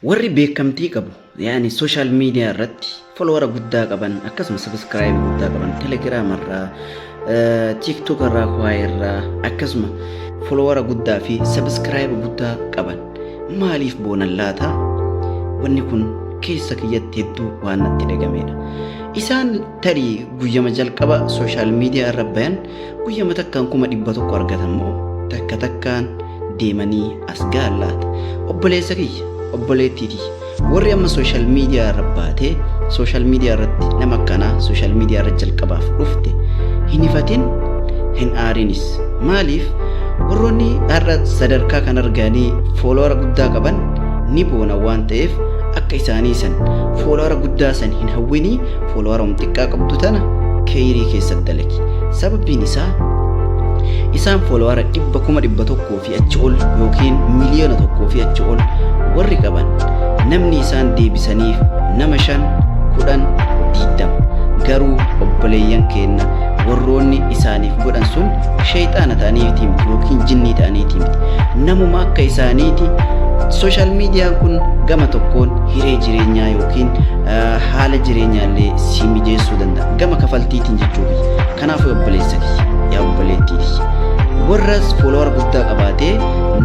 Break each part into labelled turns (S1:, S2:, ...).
S1: Warri beekamtii qabu yaani sooshaal miidiyaa irratti folowara guddaa qaban akkasuma sabiskiraayib guddaa qaban telegiraama irraa tiiktook irraa kuwaa irraa akkasuma folowara guddaa fi sabiskiraayib guddaa qaban maaliif boonan laata wanni kun keessa kiyyatti hedduu waan natti dhagameedha. Isaan tarii guyyama jalqaba sooshaal miidiyaa irra bayan Guyyama takkaan kuma dhibba tokko argatan moo takka takkaan deemanii as ga'an laata? Obboleessa kiyya, obboleettii tiyya. Warri amma sooshaal miidiyaa irra baatee sooshaal miidiyaa irratti nama akkanaa sooshaal miidiyaa irra jalqabaaf dhufte hin hifatin hin aarinis. Maaliif warroonni har'a sadarkaa kan arganii fooloora guddaa qaban ni boona waan ta'eef akka isaanii san fooloora guddaa san hin hawwinii foolowaroom xiqqaa qabdu tana keeyrii keessa dalagi sababiin isaa isaan foolowara dhibba kuma dhibba tokkoo fi achi ol yookiin miliyoona tokkoo fi achi ol warri qaban namni isaan deebisaniif nama shan kudhan diigdama garuu obboleeyyan keenna warroonni isaaniif godhan sun sheeyxaana ta'aniitii miti yookiin jinnii ta'aniitii miti namuma akka isaaniiti sooshaal miidiyaan kun gama tokkoon hiree jireenyaa yookiin haala jireenyaallee si mijeessuu danda'a gama kafaltiitiin jechuu kiyya kanaaf obboleessa kiyya yaa obboleettii kiyya warras foolowar guddaa qabaatee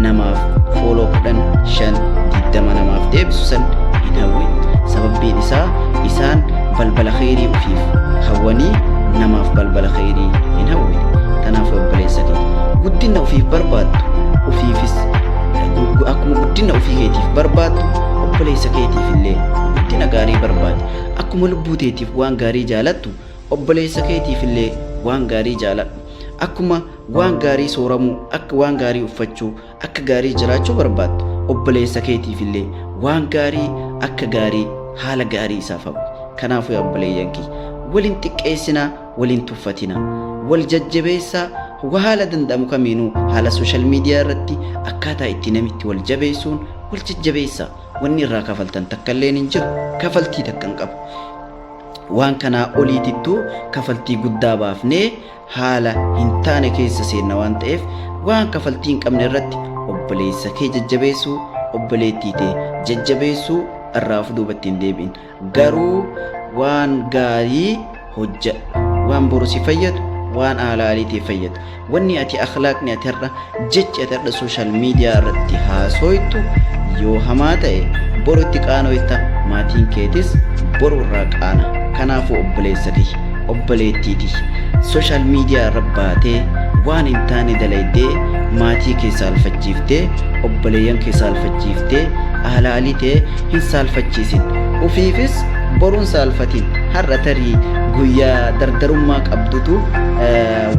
S1: namaaf fooloo kudhan shan digdama namaaf deebisu san hin hawwin sababbiin isaa isaan balbala kheyrii ofiif hawwanii namaaf balbala kheyrii hin hawwin kanaaf obboleessa kiyya guddina ofiif barbaaddu ofiifis akkuma guddina ofii keetiif barbaaddu obboleessa keetiif illee Guddina gaarii barbaadi. Akkuma lubbuu teetiif waan gaarii jaalattu, obboleessa keetiif illee waan gaarii jaaladhu. Akkuma waan gaarii sooramuu, akka waan gaarii uffachuu, akka gaarii jiraachuu barbaaddu, obboleessa keetiif illee waan gaarii akka gaarii haala gaarii isaaf hawwi. Kanaafuu yaa obboleeyyan kiyya, wal hin xiqqeessinaa, wal hin tuffatinaa. Wal jajjabeessaa, wa haala danda'amu kamiinuu haala social media irratti akkaataa itti namitti wal jabeessuun wal jajjabeessaa. Wanni irraa kafaltan takkalleen hin jiru. Kafaltii takka hin qabu. Waan kanaa oliitittuu kafaltii guddaa baafnee haala hin taane keessa seenna waan ta'eef waan kafaltii hin qabne irratti obboleessa kee jajjabeessuu obboleettii tee jajjabeessuu irraa of duubatti hin deebi'in. garuu waan gaarii hojjadhu waan boru si fayyadu waan aalaaliitiif fayyadu wanni ati akhlaaqni ati har'a jechi ati har'a sooshaal miidiyaa irratti haasooytu yoo hamaa ta'e boru itti qaanoyta maatiin keetis boru irraa qaana kanaafuu obboleessa kiyya obboleettii tiyya sooshaal miidiyaa irra baatee waan hin taane dalaydee maatii keessa alfachiiftee obboleeyyan keessa alfachiiftee aalaaliitee hin saalfachiisin ufiifis boruun saalfatiin har'a tarii guyyaa dardarummaa qabdutu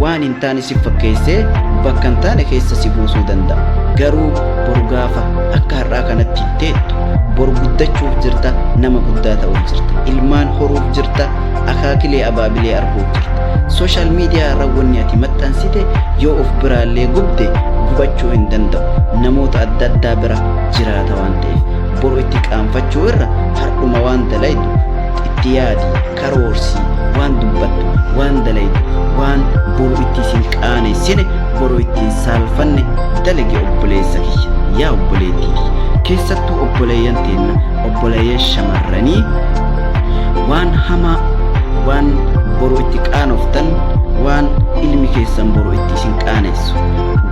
S1: waan hin taane si fakkeessee bakka hin taane keessa si buusuu danda'a garuu boru gaafa akka har'aa kanatti hin teettu boru guddachuuf jirta nama guddaa ta'uuf jirta ilmaan horuuf jirta akaakilee abaabilee arguuf jirta sooshaal miidiyaa irra wanni ati maxxansite yoo of biraallee gubde gubachuu hin danda'u namoota adda addaa bira jiraata waan ta'eef dabarsitte boru itti qaanfachuu irra hardhuma waan dalaydu itti yaadi karoorsii waan dubbattu waan dalaydu waan boru itti isin qaanessine boru ittiin saalfanne dalage obboleessa kiyya yaa obboleettii kiyya keessattuu obboleeyyan teenna obboleeyyan shamarranii waan hamaa waan boru itti qaanoftan waan ilmi keessan boru itti isin qaanessu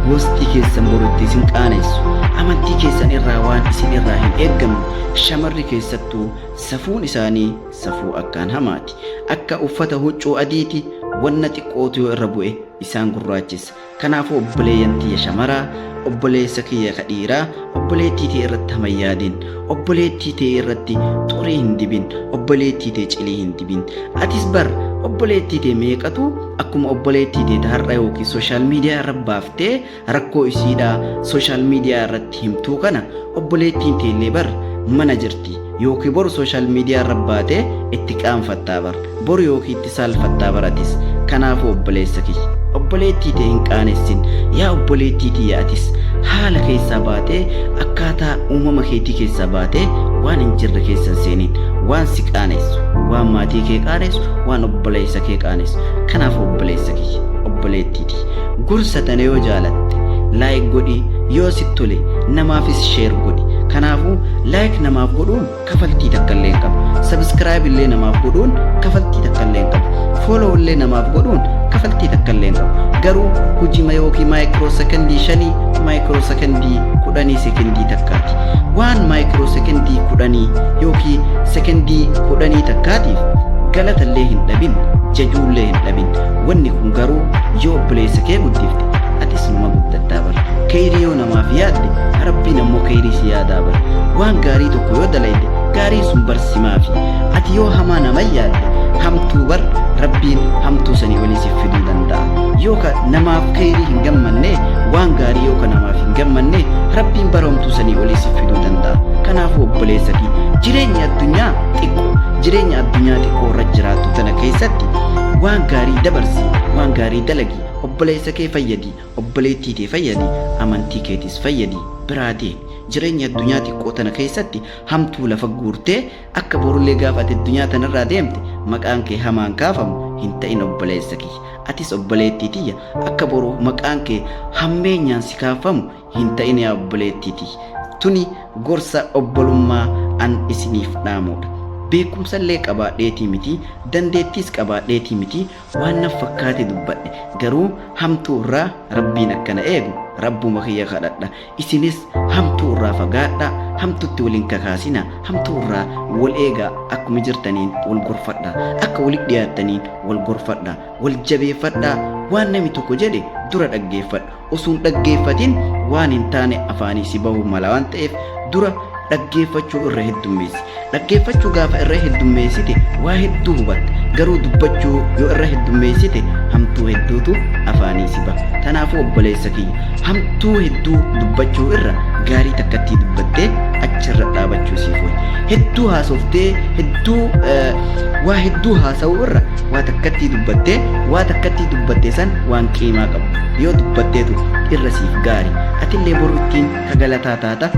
S1: gosti keessan boru itti isin qaanessu Amantii keessan irraa waan isin irraa hin eeggamu shamarri keessattuu safuun isaanii safuu akkaan hamaati. Akka uffata huccuu adiiti wanna xiqqootu yoo irra bu'e isaan gurraachessa. Kanaafuu obboleeyyan tiyya shamaraa obboleessa kiyya ka dhiiraa obboleettii tee irratti hama hin yaadin. Obboleettii tee irratti xurii hin dibin. Obboleettii tee cilii hin dibin. Atis bar obboleettii tee meeqatu akkuma obboleettii tee ta har'a yookiin sooshaal miidiyaa irra baaftee Rakkoo isiidhaa sooshaal miidiyaa irratti himtuu kana obboleettiin teellee bar mana jirti yookiin boru sooshaal miidiyaa irra baatee itti qaanfattaa bar boru yookiin itti saalfattaa bar atis kanaafuu obboleessa kiyya obboleettii tee hin qaanessin yaa obboleettii tiyya atis haala keessaa baatee akkaataa uumama keetii keessaa baatee waan hin jirre keessa hin seeniin waan si qaanessu waan maatii kee qaanessu waan obboleessa kee qaanessu kanaafuu obboleessa kiyya obboleettii Please gorsa tana yoo jaalatte like godhi yoo sitti tole namaafis share godhi. Kanaafuu like namaaf godhuun kafaltii takka illee hin qabu. Subscribe illee namaaf godhuun kafaltii takka illee hin qabu. Follow illee namaaf godhuun kafaltii takka illee hin qabu. Garuu hujima yookiin maayikiroo sekondii shanii maayikiroo sekondii kudhanii sekondii takkaati. Waan maayikiroo sekondii kudhanii yookiin sekondii kudhanii takkaatiif galatallee hin dhabin jajuullee hin dhabin Wanni kun garuu yoo obboleessa kee guddifte atis numa guddattaa bar. Keeyrii yoo namaaf yaadde rabbiin ammoo keeyrii si yaadaa bar. Waan gaarii tokko yoo dalayde gaarii sun bar simaafi. Ati yoo hamaa nama yaadde hamtuu bar rabbiin hamtuu sanii olii siif fiduu danda'a. Yoo ka namaaf keeyrii hin gammanne waan gaarii yoo ka namaaf hin gammanne rabbiin bara hamtuu sanii olii siif fiduu danda'a. Kanaafuu obboleessa kee jireenyi addunyaa xiqqoo jireenya addunyaa xiqqoo irra jiraattu tana keessatti Waan gaarii dabarsi, waan gaarii dalagi, obboleessa kee fayyadi, obboleettii tee fayyadi, amantii keetis fayyadi, biraa deemi. Jireenya addunyaa xiqqoo tana keessatti hamtuu lafa guurtee akka borullee gaafa ati addunyaa tanarraa deemte maqaan kee hamaan kaafamu hin ta'in obboleessa kiyya. Atis obboleettii tiyya akka boru maqaan kee hammeenyaan si kaafamu hin ta'in yaa obboleettii tiyya. Tuni gorsa obbolummaa an isiniif dhaamuudha. Beekumsa illee qabaadheetii miti, dandeettiis qabaadheetii miti, waan naf fakkaate dubbadhe. Garuu hamtuu irraa Rabbiin akka na eegu Rabbuma kiyya kadhadha. Isinis hamtuu irraa fagaadhaa, hamtutti wal hin kakaasinaa, hamtuu irraa wal eegaa, akkuma jirtaniin wal gorfadhaa, akka walitti dhiyaattaniin wal gorfadhaa, wal jabeeffadhaa, waan nami tokko jedhe dura dhaggeeffadhu. osoo hin dhaggeeffatin waan hin taane afaanii si bahuu mala waan ta'eef dura dhaggeeffachuu irra heddummeessi. Dhaggeeffachuu gaafa irra heddummeessite waa hedduu hubatta. Garuu dubbachuu yoo irra heddummeessite hamtuu hedduutu afaanii si baha. Kanaafuu obboleessa kiyya hamtuu hedduu dubbachuu irra gaarii takkattii dubbattee achirra dhaabachuu siif wayya. Hedduu haasoftee hedduu eh, waa hedduu haasa'uu irra waa takkattii dubbattee waa takkattii dubbatte san waan qiimaa qabu. yoo dubbattee turte irra siif gaari atillee boru ittiin ka galataa taata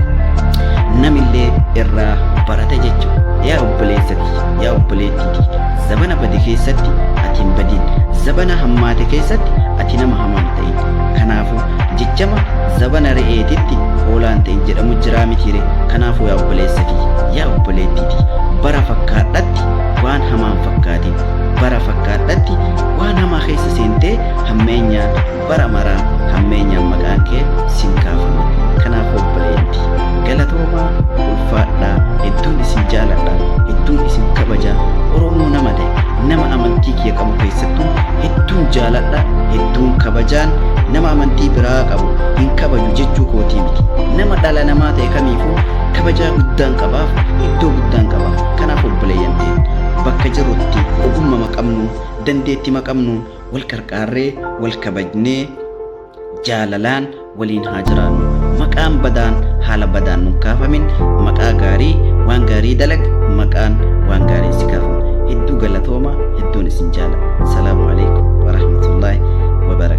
S1: namillee irraa barata jechuudha yaa obboleessati yaa obboleettiiti zabana bade keessatti ati hin badin zabana hammaate keessatti ati nama hamaa hin ta'in kanaafuu jechama zabana re'eetitti hoolaan ta'in jedhamu jiraa mitiire kanaafuu yaa obboleessati yaa obboleettiiti bara fakkaadhatti waan hamaan fakkaatiin bara fakkaadhatti waan hamaa keessa seentee hammeenya bara mara hammeenyaan maqaan kee sin kaafama kanaaf obboleetti galatoomaa ulfaadhaa hedduun isin jaaladha hedduun isin kabaja oromoo nama ta'e nama amantii kiyya qabu keessattuu hedduun jaaladha hedduun kabajaan nama amantii biraa qabu hin kabaju jechuu kootii miti nama dhala namaa ta'e kamiifuu kabajaa guddaan qabaaf iddoo guddaan qaba kanaaf obboleeyyan ta'e bakka jirrutti ogummaa qabnu dandeettii qabnu Wal qarqaarree, wal kabajnee, jaalalaan waliin haa jiraannu. Maqaan badaan haala badaan nun kaafamin maqaa gaarii waan gaarii dalag maqaan waan gaariin si kaafama. Hedduu galatooma hedduun isin jaaladha. Salaamu alaikum warahmatullahi wabarakatuh.